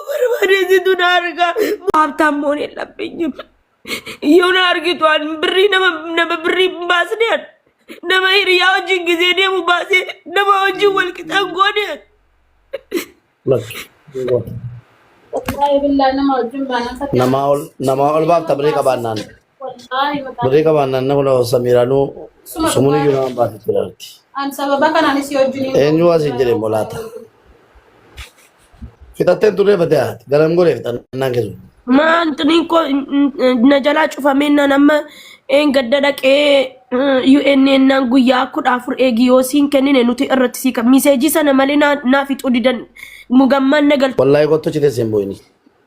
barbaadesitu na argaa haabtaan moon hin labbeenyu yoo na argitu an birrii nama nama birrii hin baasne an nama hiriyaa wajjin gisee deemu baasee nama wajjin wal qixaan goone an Wallahi billahi nama wajjin baanaan fakkaata. Namaa ol namaa ol baafta birrii qabaannaan. Birrii qabaan naanna kula samiiraanuu sumuun iyyuu nama baate jiraatti. Eenyuu asiin jedhe immoo laata? Fixattee turree fatee haati garam goree fixannaan keessu. Maantiniin koo na jalaa cufamee nan amma een gadda dhaqee UNN naan guyyaa kudha afur eegi yoo siin kennine nuti irratti sii kan miseejii sana malee naa naa fixuu didan mugammaan na galtu. Wallaahi kottu citee siin bu'ini.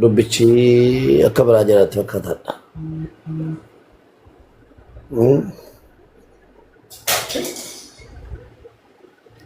dubbichi akka biraa jiraatti fakkaataadha. Hmm.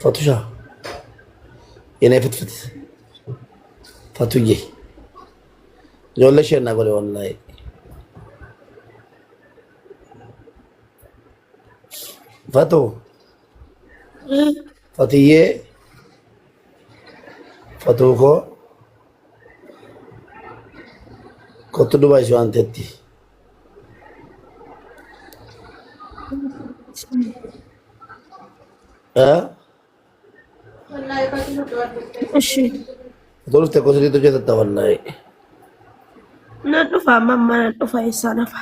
Fatusha. Yenee fitfit. Fatuyye. Ijoollee ishee naa godhe wallaahi. Fatu. Fatiyyee. Fatuu koo. Kottu duba ishee waan teetti. Eh? እሺ Fatuu dhuftee koo sirriitti hojjetatta wallaahi. nan dhufa amma amma nan dhufa eessaa nafa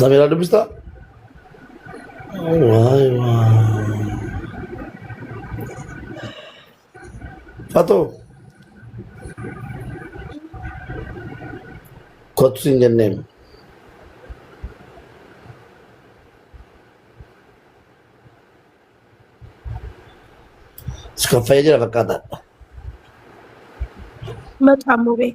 Samira dubbista? Waay waay. Fatoo. Kottu siin jenneen. Iskaffayee jira fakkaata. Maqaa muree.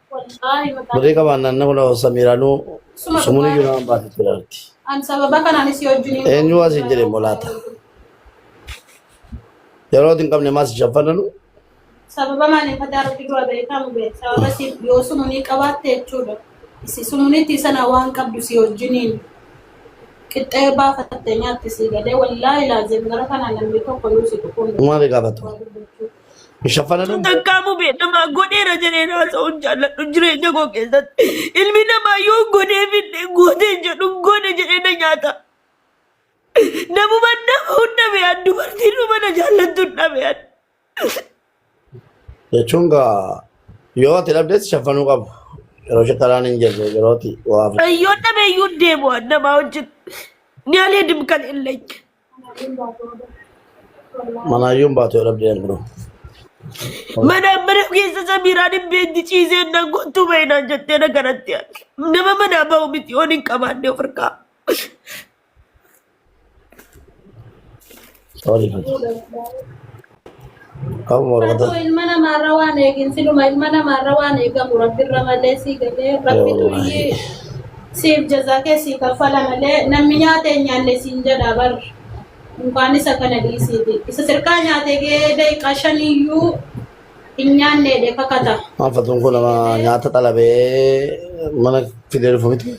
Birrii qabaan naanna kula samiiraanuu sumuun iyyuu nama baate jiraatti. Eenyu waa siin jedhe immoo laata? Yeroo itti hin qabne maas shaffananu Sababa maaliin fataa rabbi dura beekamu beet. Sababa siif yoo sumunii qabaatte jechuudha. Si sumunitti sana waan qabdu si wajjiniin qixxee baafatte nyaatti si galee wallaahi laazim gara kanaan namni tokko yoo si dhufuun maali gaafatu? waa dubbachuu. Hin shaffananuu Sun hin jedhu. takkaamuu beekamaa godheera jedheen haasa'uun jaalladhu jireenya koo keessatti. Ilmi namaa yoo godhee fidde gootee jedhu godhe jedhee na nyaata. Namuma nama hunda beekan dubartiin dhuma na jaallattu hin dhabean. Jechuun gaa yoo ati dhabdees shaffanuu qabu. Yeroo shakkaraan hin jirre yeroo ati waa fudhatu. Yoo dhabeeyyuu deemu namaa wajjin ni alee dimkan hin leenye. Manaayyuun baatu yoo dhabdee ani biroo. Mana mana keessa samiiraa dhibbeetti ciisee na gottu bainaan jettee na kanatti arge. Nama manaa bahu miti yoon hin qabaanne of harkaa. Sorry fati. Qabu morma Fatu dha. ilma namaarra waan eegin siluma ilma namaarra waan eegamu rabbirra malee sii galee rabbitu Wallaahi. iyyii siif jazaa kee sii kaffala malee namni nyaatee hin nyaanne siin jedhaa bar mukaan isa kana dhiisiiti isa sirkaa nyaatee gee daqiiqaa shaniyyuu hin nyaanneedhe kakata. Maal fatuun kun nama nyaata xalabee mana fidee dhufu miti.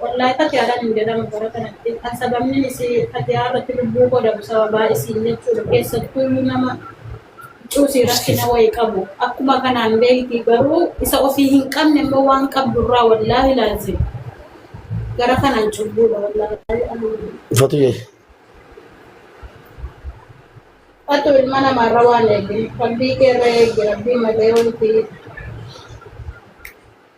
Wallaay fatiyaadan hin jedhamu bara kanatti kan sababnin isii fatiyaa irratti lubbuu koo dhabu sababaa isiin jechuudha keessattuuyyuu nama cuusii rakkina wayi qabu akkuma kanaan beeyti garuu isa ofii hin qabne immoo waan qabdurraa wallaahi laazim gara kanaan cubbuudha wallaahi aluun Fatiyee. Fatu ilma namaarra waan eegin rabbii keerra eegi rabbii malee wanti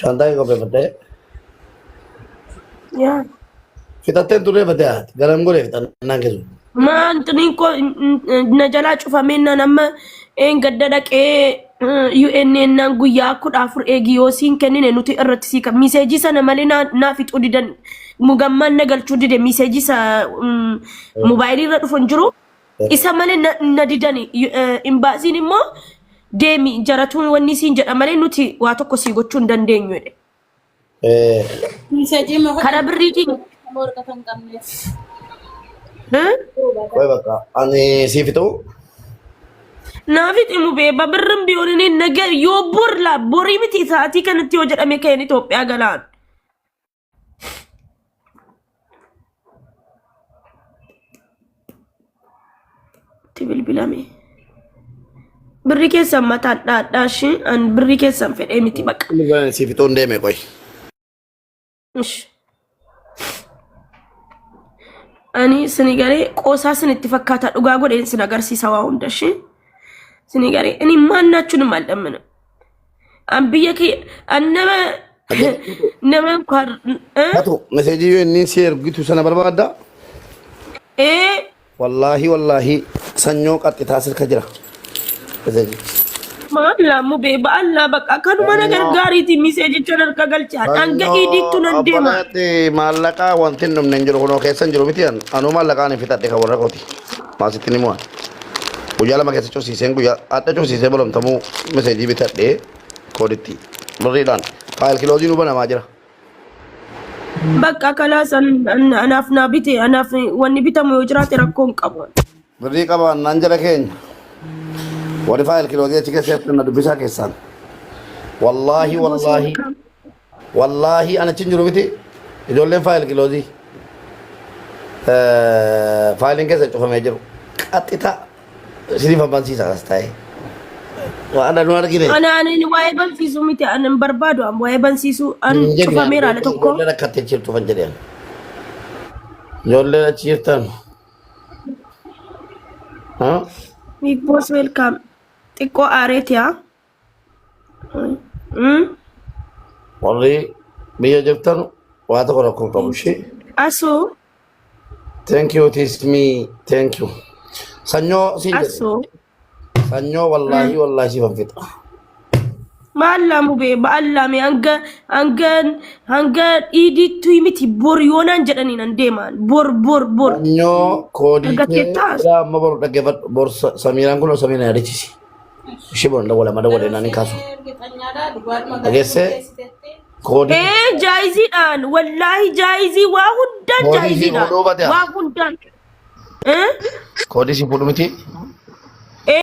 Shantaa hin qopheeffattee? Yaa. Fixattee turree battee haati. Garam godhee fixannaan keessumaa. Maan xiniin koo n- n- na jalaa cufamee nan amma een gadda dhaqee UNN naan guyyaa kudha afur eegi yoo siin kennine nuti irratti sii kan miseejii sana malee naa naa fixuu didan mugammaan na galchuu dide miseejii sa mm, moobaayilii irra dhufu hin jiru Isa malee na, na didani. Y- eh, Imbaasiin immoo deemi jaratuun wanni siin jedha malee nuti waa tokko sii gochuu hin dandeenyu jedhe. Eh, Miseejii immoo Kana hojii birriitiin warqa kan qabneef. eh? Qoy bakka ani siif ta'u naafi ximu beeba birrin biyoonini naga yoo borla borii miti isaatii kanatti yoo jedhame ka'een Itoophiyaa galaan. itti bilbilame birri keessan mataan dhaadhaa ishii an birri keessan fedhee miti baqa Siif itoon deeme qoy. Ish. ani sini garee qoosaa sin itti fakkaata dhugaa godheen sin agarsiisa waa hunda ishii sini garee inni maannaachuu ni maal dhammina An biyya kiyya an nama nama kan Hatu meseejii yoo inni si ergitu sana barbaadda. ee Wallaahi wallaahi sanyoo qaxxitaa sirka jira. Meseejii. maaf laammu bee ba'allaa bakka kanuma na Sanyoo. gargaariiti miseejicha narka galchaan hanga iidiittu nan deema. Abbalaatti maallaqaa wanti hin dhumne hin jiru kunoo keessa hin jiru miti an. Anuu maallaqaan hin fixadhe kan warra kooti. Maasitti ni mo'an. guyyaa lama keessa cufsiiseen guyyaa adda cufsiisee bolomtamuu meseejii bitadhee kooditti birriidhaan faayil kiloozii nu banamaa jira. Bakka kalaas anaaf naa bite anaaf wanni bitamu yoo jiraate rakkoo hin qabu. Birrii qabaan naan jala keenya. Warri faayil kiloozii achi keessa ergan na dubbisaa keessaan. Wallaahi wallaahi Wallaahii an achin jiru miti ijoolleen faayil kiloozii faayiliin keessa cufamee jiru qaxxita isiniif ammansiisa as taa'ee waan nu argine Ana ani waa'ee bansiisuu miti ani hin barbaadu an waa'ee bansiisuu an hin jenne cufameera ala tokko. ijoolleen akka itti jirtu fan jedheen ijoolleen achi jirtan haa Big boss welcome. Xiqqoo aareeti haa. Mm. warri biyya jirtan waa tokko rakkoo hin qabu ishee Asuu thank you tis me thank you sanyoo siin jedhe asuu sanyoo wallaahi wallaahi siif hin fixa maallaa mubee maallaa mee hanga hanga hanga dhiidiittu miti bor yoonaan jedhaniin an deemaan bor bor bor sanyoo koodii kee Dhaggeeffattaas? ilaa amma boru dhaggeeffadhu bor Sa- samiiraan kun samiiraan yaadachisi ishee boona dawwala ma dawwala jennaan hin kaasu dhageessee koodii ee jaayiziidhaan wallaahi jaayizii waa hundaan Koodii jaayiziidhaan fuudhuu baate haa. waa hundaan ee koodii si fuudhu miti ee